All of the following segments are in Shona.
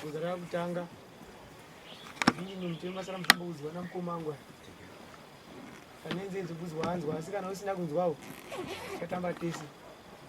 Kuzara kutanga ndini nomutema masara mufambo kuzwa namukoma wangu kanenzenzi kuzwa anzwa asi kana usina kunzwawo tatamba tese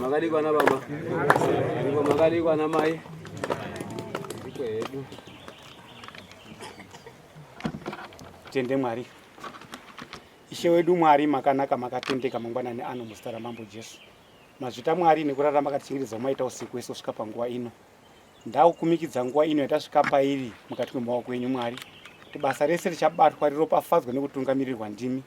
makadikwa na baba iko makadikwa na mai iko hedu tende mwari ishe wedu mwari makanaka makatendeka mangwanani ano muzita ramambo jesu Mazvita Mwari nekurara makatichengetedza umaita usiku wese kusvika panguva ino. Ndakukumikidza nguva ino yatasvika pairi mukati kwemaoko enyu Mwari. Kuti basa rese richabatwa riropafadzwa nekutungamirirwa ndimi.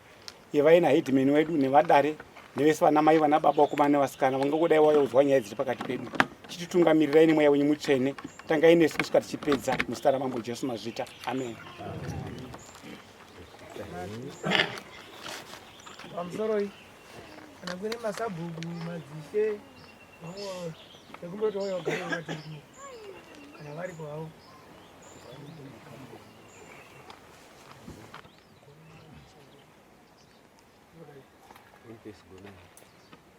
Ivai nahedimeni wedu nevadare nevese vana mai vana baba vakomana nevasikana vangangodai vauya kuzwa nyaya dziri pakati pedu. Chititungamirirayini mweya wenyu mutsvene. Tangai nesu kusvika tichipedza muzita ramambo Jesu Mazvita. Amen. Amen. kana kune masabhuku madzishe ekumboti oyo gari vatirimu kana vari kwavo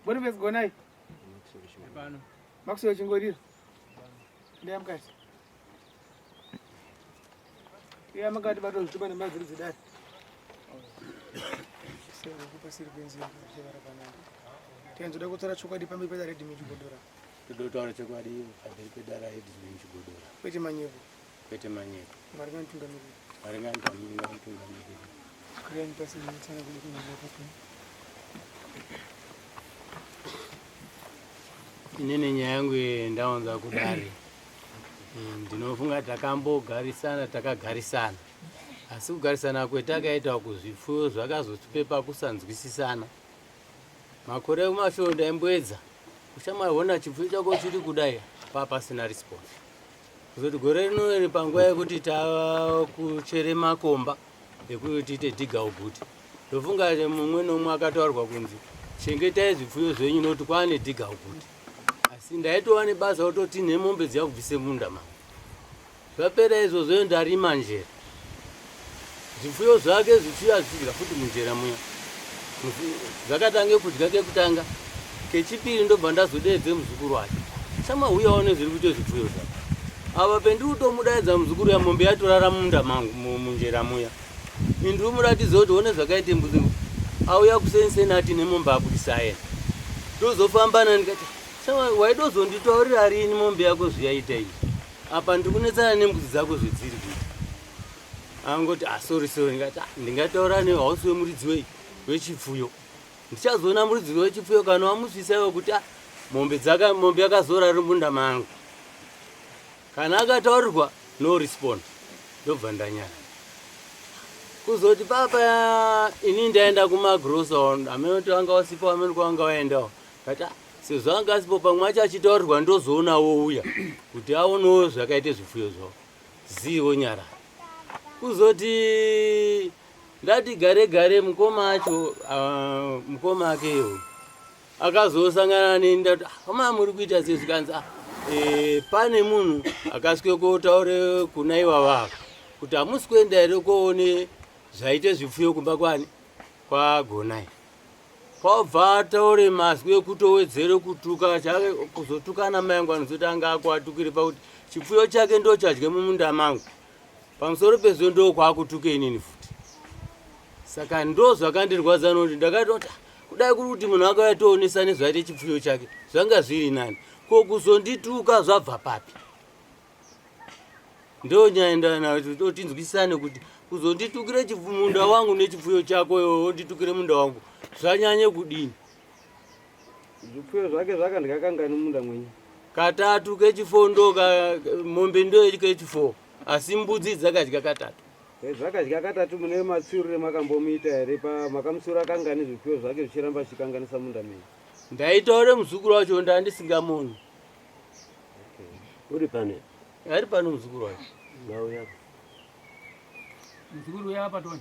Boni pesi gonai makusio chingorira ndeyamukati Iya makati bato zvitupa nemaziri dzidari. Sero kupa siri penzi kuchevara panapa. Tenzo da kutsara chokwadi pambi peda red meat godora. Tido taura chokwadi pambi peda red meat godora. Kwete manyepo. Kwete manyepo. Mari ngani tungamiri. Mari ngani tungamiri. Kuyani pasi nitana kuda kunyepo. Inene nyaya yangu ndaonza kudari. ndinofunga takambogarisana takagarisana asi kugarisana kwetakaita uku zvipfuyo zvakazotipepa kusanzwisisana makore ekumashoo ndaimboedza uchamaona chipfuyo chako chiri kudai paa pasina response kuzoti gore rino iri panguva yekuti takuchere makomba ekuti tiite dhiga uguti ndofunga mumwe nomwe akataurwa kunzi chengetai zvipfuyo zvenyu nokuti kwaane dhiga uguti asi ndaitova nebasa ototi nemombe dziya kubvise munda ma zvapera izvozvoyo ndarima njera zvifuyo zvake zvichiuya zvichidya futi munjera muya zvakatange kudya kekutanga kechipiri ndobva ndazodeedze muzukuru wake shama huya one zviri kuite zvifuyo zvake ava pendiri kutomudaidza muzukuru yamombe yatorara munda mangu munjera muya mu, Indi umuratidze kuti one zvakaita mbuzi auya kusenseni ati nemombe abudisayena tozofamba na ndikati waida uzonditaurira rini mombe yako zviyaita iyi apa ndikunetsana nembuzi dzako zvedziri kuti angoti asori ah, sori ndikati ah, ndingataura ne hausi wemuridzi wei wechipfuyo ndichazoona muridzi wechipfuyo kana wamusvisaiwo kuti ah, mombe dzaka mombe yakazora rimunda mangu Kana akataurirwa no respond ndobva ndanyara. Kuzoti papa ini ndaenda kumagrosa amene kuti wanga wasipo amene kuti wanga waendawo. Kata sezvo anga asipo pamwe acho achitaurirwa ndozoona wouya kuti aonewo zvakaita zvifuyo zvavo. Zii wonyara. Kuzoti ndati gare gare mukoma acho uh, mukoma ake iwo. akazosangana neni ndati ah, hama muri kuita sei zvikanzi ah, e, pane munhu akasvike kotaure kuna ivavava kuti hamusi kuenda here koone zvaite zvipfuyo kumba kwani kwagonai kwabva ataure mazwi ekuti owedzere kutuka chake kuzotukana mayangu anozoti anga akuatukire pakuti chipfuyo chake ndochadye mumunda mangu pamusoro pezvo ndokwakutuka inini futi saka ndo zvakandirwadza noti ndakatoti kudai kuri kuti munhu akauya toonesa nezvaite chipfuyo chake zvanga zviri nani ko kuzondituka zvabva papi ndo nyaya ndotinzwisisane kuti kuzonditukire munda wangu nechipfuyo chako iwo wonditukire munda wangu zvanyanye kudini Zvipfuyo zvake zvakandya kangani munda mwenyu? Katatu kechifondo ka mombe ndoyo kechifo asi mbudzi dzakadya katatu. Eh, zvakadya katatu mune matsiurire makambomuita here pa makamutsiura kangani zvipfuyo zvake zvichiramba zvichikanganisa munda menyu? Ndaitaure muzukuru wacho ndandisingamoni. Uri pane? Ari pano muzukuru wacho. Ndauya. Muzukuru uya apa toni.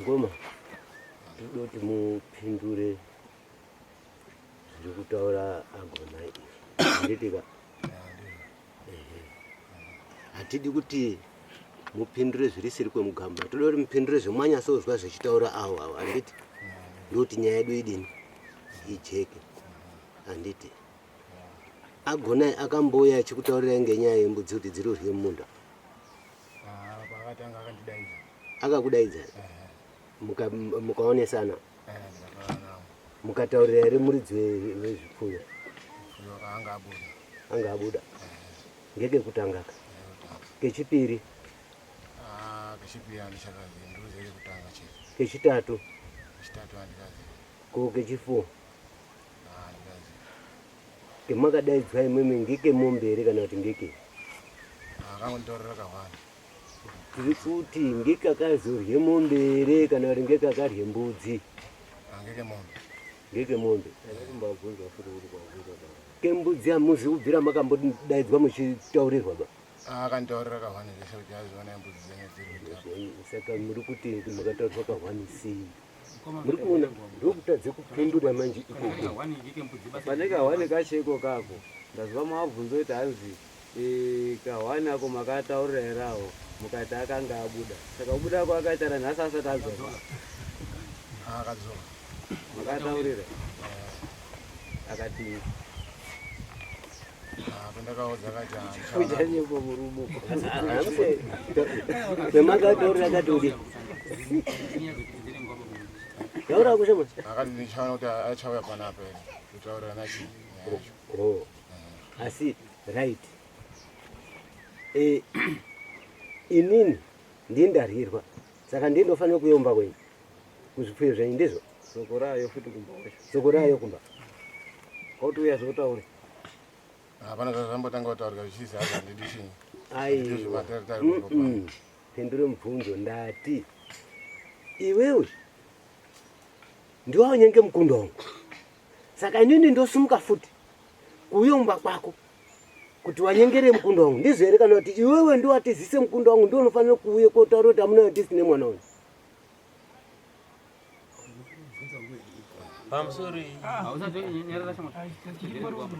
Ngoma, ndoda kuti mupindure zviri kutaura agona izvi. Handitika? Hatidi kuti mupindure zvirisiri kwemugamba. Toda kuti mupindure zvemwanyasouzwa zvechitaura awo awo. Handiti? Ndokuti nyaya yedu idini? Ijeke. Handiti? Agona akambouya achikutaurirai ngenyaya yembudzi kuti dziri urye mumunda? Ah, paakatanga akandidaidza. Akakudaidza? Mukaonesana? Mukataurira here muridzi wezvipfuyo? Anga abuda. Ngekekutanga ka? Kechipiri? Ah, kechipiri andichakazivi, ndiruzive kekutanga chete. Kechitatu? Kechitatu andikazivi. Ko kechifo? kemakadaidzwa imwimwi ngeke mombe here kana kuti ngeke tiri kuti ngeke akazorye mombe here kana kuti ngeke akarye mbudzi ngeke mombe kembudzi hamuzi kubvira makambodaidzwa muchitaurirwa ba akanditorera kahwani zvese kuti aziona mbudzi dzenyu dziri saka muri kuti makataurirwa kahwani sei muri kuona ndokutadze kupindura manje ikoko pane kahwani kacheko kako ndaziva mavabvunza kuti hanzi eh, kahwani ako makataurira here awo mukati akanga abuda saka kubuda ako akaitara nhasi asati adzoka akadzoka makataurira akati yaura kushe manje akati ndichaona kuti achauya panapa here kutaurira nachi oh. asi right e, inini ndindaryirwa saka ndindofanira kuyomba kwenyu kuzvipfuyo zvenyu ndizvo soko rayo futi kumba wacho soko rayo kumba kwauti uya zvotaure hapana zvazvambotanga kutaurika zvichizi hazi handidi chinyi aiwa pendure mubvunzo ndati iwewe ndiwawo nyenge mukunda wangu saka inini ndosumuka futi kuuya kumba kwako kuti wanyengere mukunda wangu ndizvo here kana kuti iwewe ndiwatizise mukunda wangu ndiwo unofanira kuuye kotaura kuti amuna yatisi nemwana wangu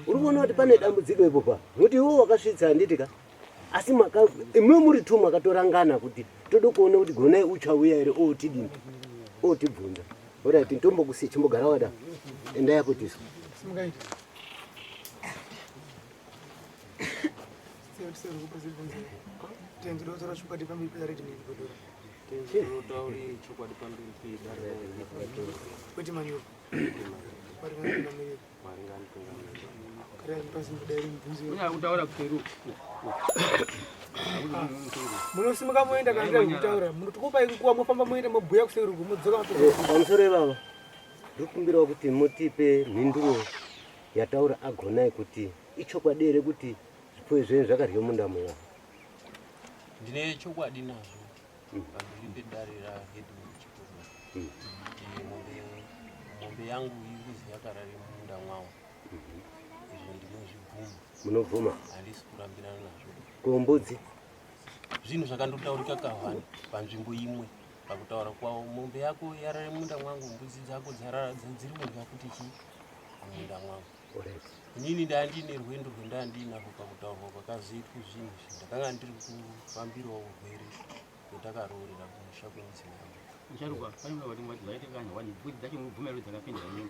uri kuona kuti pane dambudziko ipopa nokuti iwo wakasvitsa handiti ka asi imwe muri two makatorangana kuti tode kuona kuti gonai uchauya here otidini otibvunza orit ntombokusi chimbogara wada enda yakutiswa Thank you. munosimuka moenda kandaikutaura munotokupai nguva mofamba moenda mobhuya kuseruku modzoka eh, pamusoro ivava ndikumbirawo kuti mutipe mhinduro yataura agonai kuti ichokwadi here kuti zvipo izveni zvakaryo munda muvava ndine chokwadi nazvo pamberi pedare rahedu chikuru kuti mombe yangu iri kuzi yakarare mumunda mwawo izvo ndinozvibvuma munobvuma handisi kurambirana nazvo kombudzi zvinhu zvakandotaurika kahwani panzvimbo imwe pakutaura kwavo mombe yako yarare munda mwangu mbudzi dzako dziri kudya kuti chii munda mwangu inini ndanga ndiine rwendo rwendanga ndiinako pakutaurwa kwakazoitwa zvinhu izvi ndakanga ndiri kufambirawo urwere rwatakaroorera kumusha kwemidzimu yangu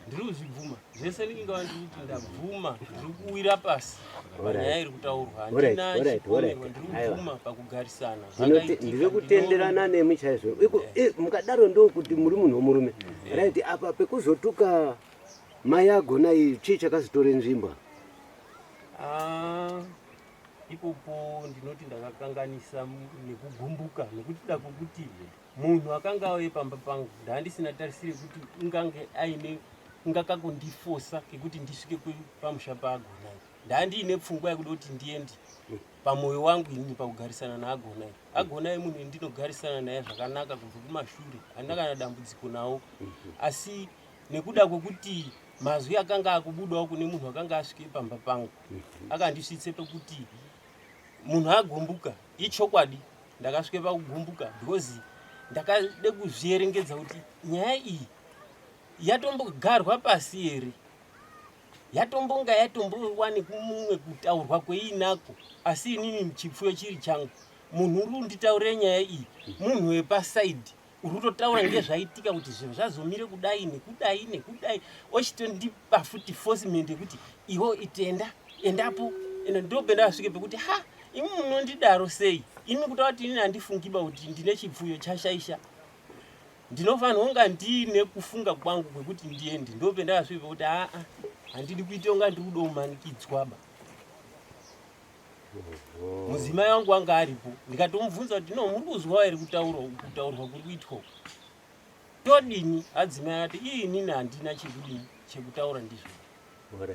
ndiri kuzvibvuma zvese ndinenge wandiri kuti ndabvuma ndiri kuwira pasi panyaya iri kutaurwa handina chipomerwa ndiri kubvuma pakugarisana ndiri kutenderana nemi chaizvo mukadaro ndokuti muri munhu womurume right apa pekuzotuka Mai agona iyi chii chakazotora nzvimbo? Ah, ipopo ndinoti ndakakanganisa nekugumbuka nekuti da kuti munhu akanga auye pamba pangu ndaandisina tarisire kuti ingange aine ingakakundifosa kekuti ndisvike pamusha paagona ndaandiine pfungwa yekuda kuti ndiende pamwoyo wangu ini pakugarisana naagona agona munhu ndinogarisana naye zvakanaka kubva kumashure handina kana dambudziko nawo asi nekuda kwekuti mazwi akanga akubudawo kune munhu akanga asvike pamba pangu akandisvitse pekuti munhu agumbuka ichokwadi ndakasvike pakugumbuka because ndakade kuzvierengedza kuti nyaya iyi yatombogarwa pasi here yatombonga yatombowani kumumwe kutaurwa kweinako asi inini chipfuyo chiri changu munhu uri unditaure nyaya iyi munhu wepasaidi uri kutotaura ngezvaitika kuti zvinhu zvazomire kudai nekudai nekudai ochitondipa futi fosimende yekuti iwo itenda endapo ende ndopenda vasvike pekuti ha imi munondidaro sei imi kutaura kuti inini handifungiba kuti ndine chipfuyo chashaisha ndinofanira kunga ndiine kufunga kwangu kwekuti ndiende ndopenda vasvike pekuti aa handidi kuita kunga ndiri kudomanikidzwaba mudzimai wangu anga aripo ndikatomubvunza kuti no muri kuzwawo here kutaurwa kutaurwa kuri kuitwa uku todini adzimai ati iinini handina chekudini chekutaura ndizvo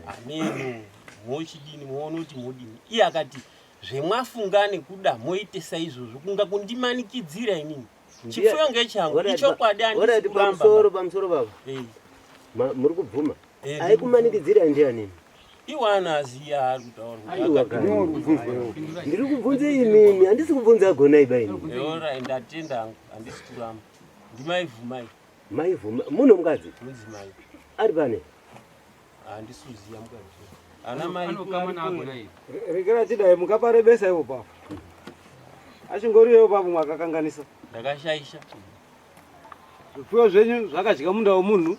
haneno mochidini moona kuti modini iye akati zvemwafungane kuda moitesa izvozvo kunga kundimanikidzira inini Chifuyo ngechangu, ichokwadi andisi kuramba. Pamusoro, pamusoro baba. Eh. Muri kubvuma? Eh, Aikumanikidzira ndiani? iwana aziya ari kutaurndiri kubvunza imimi handisi kubvunza agonai bainiorai ndatenda angu handisi kuramba ndimaivhumai maivhuma muno mukadzi ari pane rekera chidai mukaparebesa ivo pavo achingoriyo pavo mwakakanganisa ndakashaisha zvipfuyo zvenyu zvakadya munda womunhu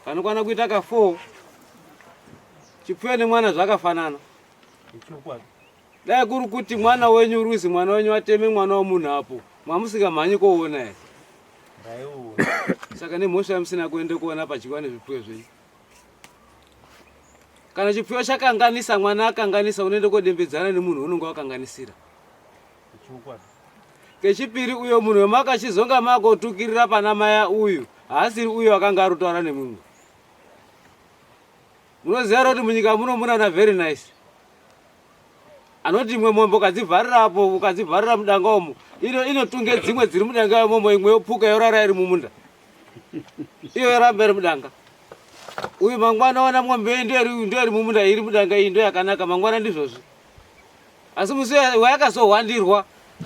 vanokwana kuita ka four chipfuyo nemwana zvakafanana Dai kuri kuti mwana wenyu Ruzi mwana wenyu ateme mwana wemunhu apo mamusingamhanyi koona here? Saka nemhosva yamusina kuenda kuona padyiwa nezvipfuyo zvenyu. Kana chipfuyo chakanganisa mwana akanganisa unoenda kodembedzana nemunhu unonga wakanganisira. Kechipiri uyo munhu wemakachizonga makotukirira pana maya uyu haasiri uyo akanga arotaura nemumwe. Munoziva here kuti munyika muno muna na very nice anoti imwe mombe ukadzivharira apo ukadzivharira mudanga umo ino inotunge dzimwe dziri mudanga imomo imwe yopuka yorara iri mumunda iyo yoramba iri mudanga uyu mangwana wana mombe iyi ndo iri mumunda iri mudanga iyi ndo yakanaka mangwana ndizvozvi asi musi wayakazohwandirwa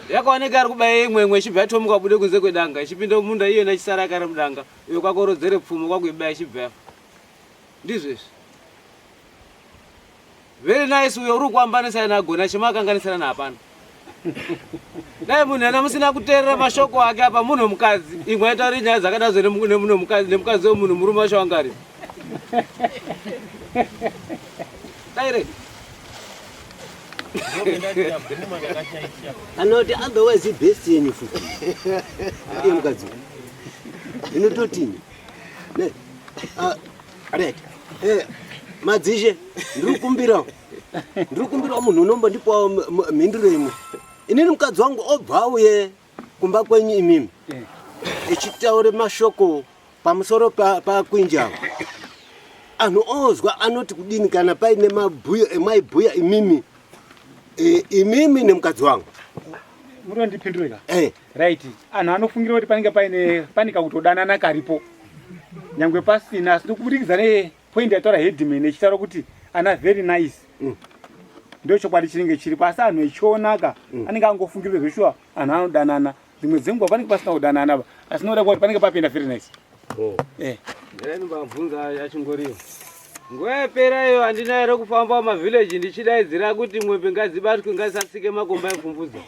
yakaoneka ari kubaya imwe imwe ichibva yatomuka bude kunze kwedanga ichipinda mumunda iyona ichisara yakari mudanga iyo kwakorodzere pfumo kwakuibaya ichibva yafa Ndizvo izvi. Very nice uyo uri kuambanisana nagona chema akanganisana naapana. Dai munhu ena musina kuteerera mashoko ake apa munhu mukadzi imwe aitauri nyaya dzakadazvo nemunhu mukadzi nemukadzi wemunhu murume wacho wangari. Daire. Anoti otherwise best yenyu futi. Iye mukadzi. Inototini. Ah, Red. Eh, madzishe ndiri kukumbirawo ndiri kukumbirawo munhu unombondipawo m- m- mhinduro imwe inini mukadzi wangu obva auye kumba kwenyu imimi echitaura mashoko pamusoro pa- pakwinjava anhu ozwa anoti kudini kana paine mabhuya emaibhuya imimi eh, imimi nemukadzi wangu murondipindurika Eh. right anhu anofungira kuti panenge paine pane kakutodanana karipo nyangwe pasina asi ndokubudikidza nepoint yataura headman echitaura kuti ana very nice mm. ndo chokwadi chinenge chiripo asi anhu echionaka mm. anenge angofungirwe zveshuwa anhu anodanana dzimwe dzenguva panenge pasina kudanana va asi noda kuti panenge papinda very nice oh. eh. ndinobvunza yachingoriyo nguva yapera iyo handina here kufamba mavhillaji ndichidaidzira kuti mwembe ngadzibatwe ngadzisasike makomba epfumbudza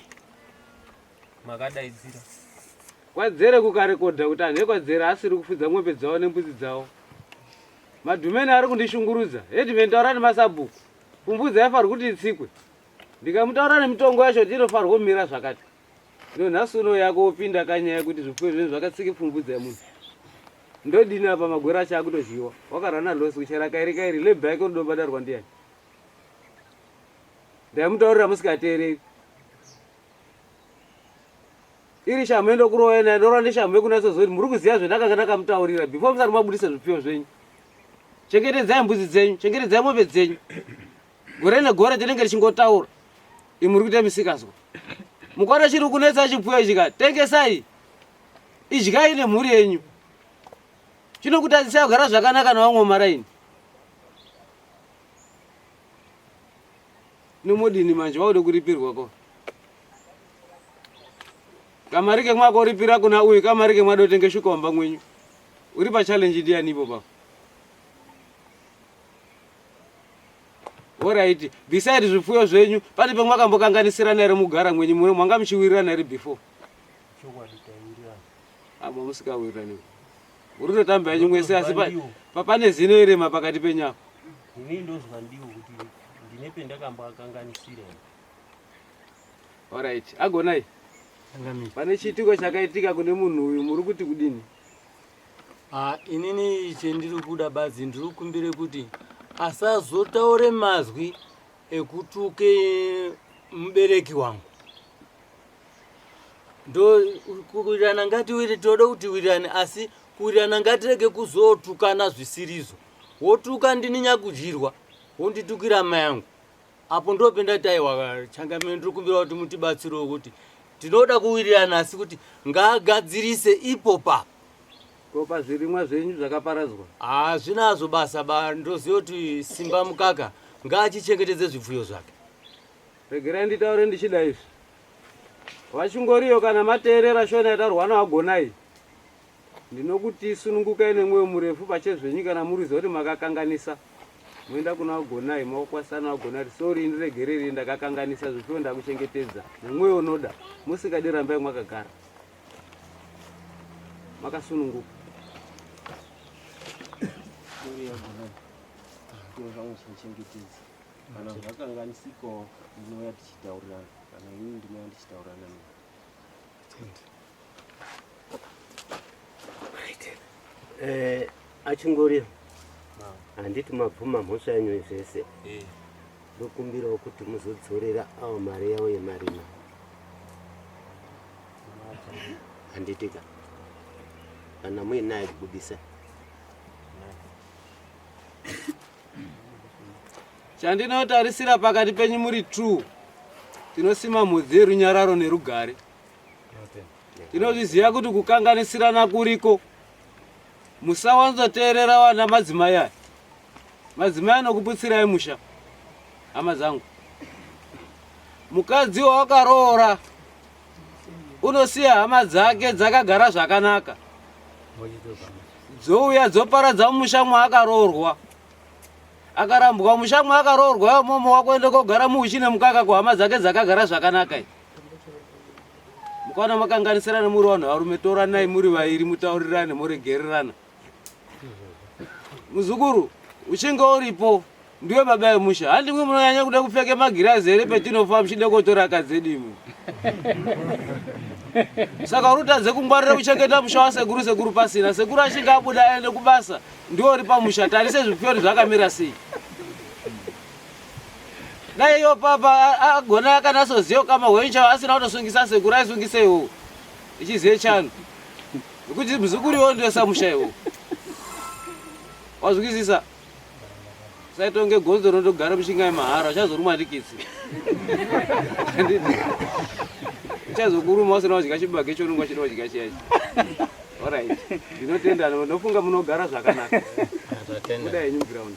makadaidzira kwadzere kukarekodha kuti anhu ekwadzere asiri kufudza mwombe dzavo nembudzi dzavo madhumeni ari kundishungurudza hedimeni taura nemasabhuku kumbudzi aifanirwa kuti itsikwe ndikamutaura nemitongo yacho kuti inofanirwa kumira zvakati ino nhasi uno yako wopinda kanyaya yekuti zvipfuyo zvinhu zvakatsika ipfumbudzi yemunhu ndodini apa magwero acho akutozhiwa wakarana losi kuchera kairi kairi lebha yake unodobadarwa ndiyani ndaimutaurira musikateereri iri shamhu yendokuroya naye ndorwa neshamhu yekunatsoziva kuti muri kuziva zvendakanga ndakamutaurira before musati mabudisa zvipfiwo zvenyu chengetedzai mbudzi dzenyu chengetedzai mombe dzenyu gore negore tinenge tichingotaura i muri kuita misikazwa mukwana chiri kunetsa chipfuyo ichi ka tengesai idyai nemhuri yenyu chinokutadzisai kugara zvakanaka navamwe maraini nomodini manje waude kuripirwa ko kamari kemwaka uripira kuna uyu kamari kemwada utenge shuka wamba mwenyu uri pachallenji ndiyani ipo pako orit beside zvipfuyo zvenyu pane pemwakambokanganisirana here mugara mwenyu muno mwanga muchiwirirana here before amo ah, musikawirirani Uri kutotamba henyu mwese asi pane zino irema pakati penyu apo. Ini ndozwa ndiwo kuti ndine pendakambakakanganisira. Alright, agonai. Pane chiitiko chakaitika kune munhu uyu muri kuti kudini? Ah, inini chendiri kuda badzi ndiri kumbire kuti asazotaure mazwi ekutuke mubereki wangu ndo kuwirirana ngatiwiri tinoda kuti wirirane asi kuwirirana ngatirege kuzotukana zvisirizo wotuka ndini nyakudyirwa wonditukira mai yangu apo ndopenda kuti aiwa changamire ndiri kumbira kuti mutibatsirewo kuti tinoda kuwirirana asi kuti ngaagadzirise ipo papo Ko pazvirimwa zvenyu zvakaparadzwa? Hazvinazvo basa ba, ndoziva kuti Simba Mukaka ngaachichengetedze zvipfuyo zvake. Regerai nditaure ndichida izvi. Vachingoriyo kana mateerera shona yatarwa nawagonai ndinokuti sunungukai nemwoyo murefu pachezvenyu kana muriziva kuti makakanganisa moenda kuna wagonai maokwasana wagonai kuti sori indiregereri ndakakanganisa zvipfuyo ndakuchengetedza nemwoyo unoda musingadi rambai mwakagara makasununguka zviro zvangu zvichengetedza kana zvakanganisikawo ndinouya tichitaurirana kana ini ndinouya ndichitaurirana ne eh, achingori handiti mabvuma mhosva yenyu zvese eh. ndokumbirawo kuti muzodzorera awo mari yavo yemarima handitika kana muinaye kubudisa chandinotarisira pakati penyu muri true tinosima mhodzi yerunyararo nerugare tinozviziva kuti kukanganisirana kuriko musawanzoteerera vana madzimai aya Madzimai anokuputsirai musha, hama dzangu. Mukadzi wawakaroora unosiya hama dzake dzakagara zvakanaka, dzouya dzoparadza musha mwaakaroorwa. Akarambwa musha mwaakaroorwa imomo wakuenda kogara muuchi nemukaka kuhama dzake dzakagara zvakanaka. Mukwana makanganisirana muri vanhu varume, toranai muri vairi, mutaurirane, moregererana. muzukuru uchinge uripo ndiwe baba yemusha handi mwe munonyanya kuda kupfeka magirazi here petinofa muchida kotora akadzedi imwe saka uri utadze kungwarira kuchengeta musha wasekuru sekuru pasina sekuru achinge abuda aende kubasa ndiwo uri pamusha tarise zvipyori zvakamira sei dai iyo papa agona yakanasoziva kama hwencha asina kutosungisa sekuru aisungiseiwo ichizive chano Kuti muzukuru iwo ndiwe samusha iwo. Wazwizisa? Saitonge gonzo rinotogara mushingai mahara uchazoruma ndikitsi. Uchazokuruma usina wadya chibage chounenge uchida wadya chiya ichi. Alright. Ndinotenda ndofunga munogara zvakanaka. Tatenda. Kudai new ground.